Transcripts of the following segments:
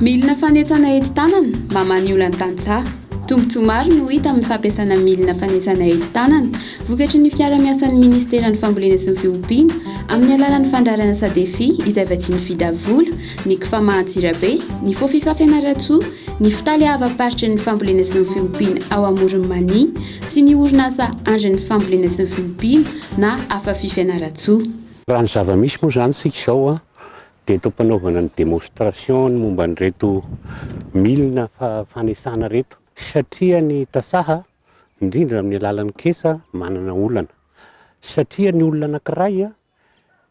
Milina fanetsana enti-tanana mba maniola ny tantsaha. Tombontsoa maro no hita amin'ny fampiasana milina fanetsana enti-tanana vokatry ny fiara-miasan'ny minisiteran'ny Fambolena sy ny Fiompiana amin'ny alalan'ny fandaharana Sadefi izay vatsian'ny Fida vola, ny Cfama Antsirabe, ny Fofifa Fianarantsoa, ny Fitaleavam-paritry ny Fambolena sy ny Fiompiana ao Amoron'i Mania, sy ny orinasa Andry ny fambolena sy ny fiompiana na Afafi Fianarantsoa. Raha ny zava-misy moa izany isika izao dia eto am-panaovana ny démonstration ny momba an'ireto milina fanesana ireto satria ny tasaha indrindra amin'ny alalan'ny kesa manana olana satria ny olona anankiray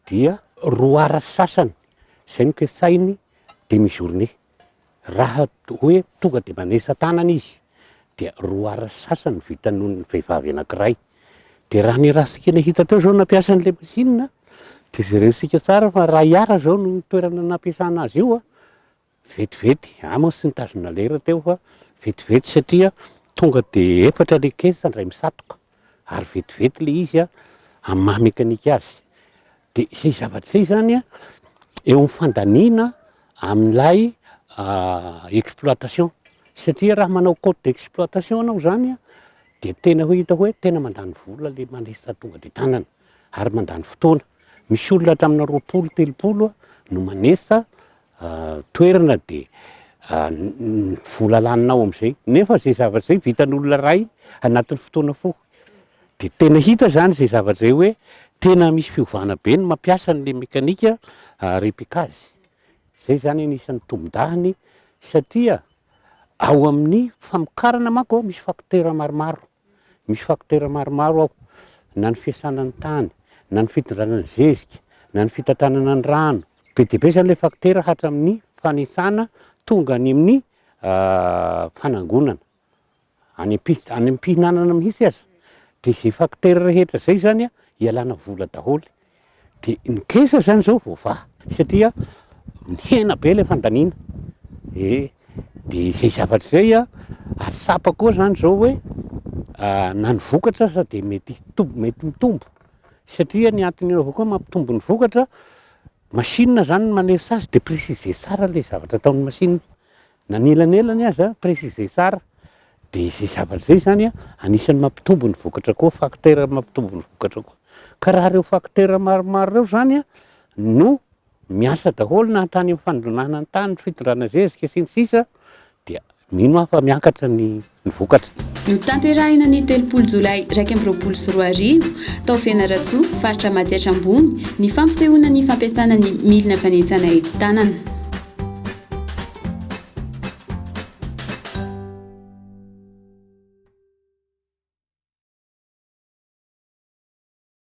dia roa ora sy sasany izay no ketsahin'ny demi journée, raha hoe tonga dia manetsa tanana izy dia roa ora sy sasany no vita noho ny vehivavy anankiray, dia raha ny raha sikena hita teo izao nampiasa an'ilay machine dia jerentsika tsara fa iray ora izao no toerana nampiasana azy io an! Vetivety, Amos nitazona lera teo fa vetivety satria tonga dia efatra ilay caisse indray misatoka ary vetivety ilay izy an, amin'ny maha mekanika azy. Dia izay zavatra izay izany an, eo amin'ny fandaniana amin'ilay exploitation. Satria raha manao cote d'exploitation ianao izany an, dia tena hoe hita hoe tena mandany vola ilay manisa tonga dia tanana. ary mandany fotoana. Misy olona hatraminà roapolo, telopolo no manesa toerana dia vola lanina ao amin'izay. Nefa izay zavatra izay vitan'olona iray anatin'ny fotoana fohy. Dia tena hita izany izay zavatra izay hoe tena misy fiovana be ny mampiasa an'ilay mekanika repique azy. Izay izany anisan'ny tombon-dahany satria ao amin'ny famokarana manko misy fakotera maromaro. Misy facteur maromaro ao, na ny fiasana ny tany, na ny fitondrana ny zezika, na ny fitantanana ny rano. Be dia be izany ilay facteur hatramin'ny fanisana tonga any amin'ny fanangonana, any am-pihitra, any am-pihinanana mihitsy aza. Dia izay facteur rehetra izay izany ialana vola daholo De ny caisse zany zao voavaha satria mihena be le fandaniana e de zay zavatra zay a ary tsapa koa zany zao hoe na ny vokatra aza de mety hitombo mety mitombo satria ny antony eo avao koa mampitombo ny vokatra machine zany no manerisa azy de presize tsara le zavatra ataon'ny machine Na ny elanelany aza, préciser tsara, dia izay zavatra izay izany anisan'ny mampitombo ny vokatra koa, facteur mampitombo ny vokatra koa. Ka raha ireo facteur maromaro ireo izany no miasa daholo na hatrany amin'ny fandonana ny tany, fitondrana zezika sy ny sisa dia mino aho fa miakatra ny ny vokatra. Notanterahina ny telopolo jolay iraika amby roapolo sy roa arivo, tao Fianarantsoa, faritra Matsiatra Ambony, ny fampisehoana ny fampiasana ny milina fanentsana ety tanana.